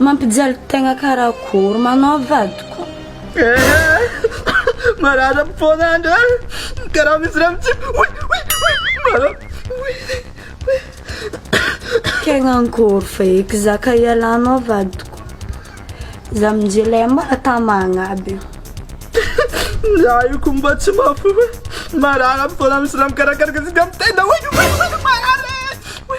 Mampijaly tegna karakory manao vadiko. Eeh marary am foana andry a! Karaha misy rano tsy oi oi oi marary oi oi. Tegna ankôry fa eky za ka ialanao vadiko. Za minjy lay mbola tamagna aby io. Za io ko mba tsy mahafoy hoe marary am foana misy rano karakaraka tsika am tenda oi oi oi marary e!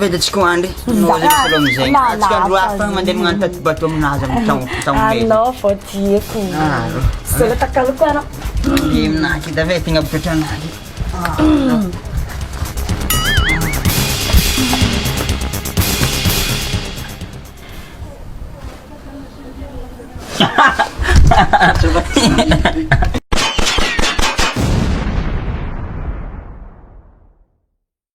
Vedintsika ho andry. Anao zany solo amizay. Antsika andro hafa tagny mandeha magnano taty bateau aminazy am tam tam be. Anao vao dieko. Aro. Solo takaloko ara. Io naky tavay tegna botra naky.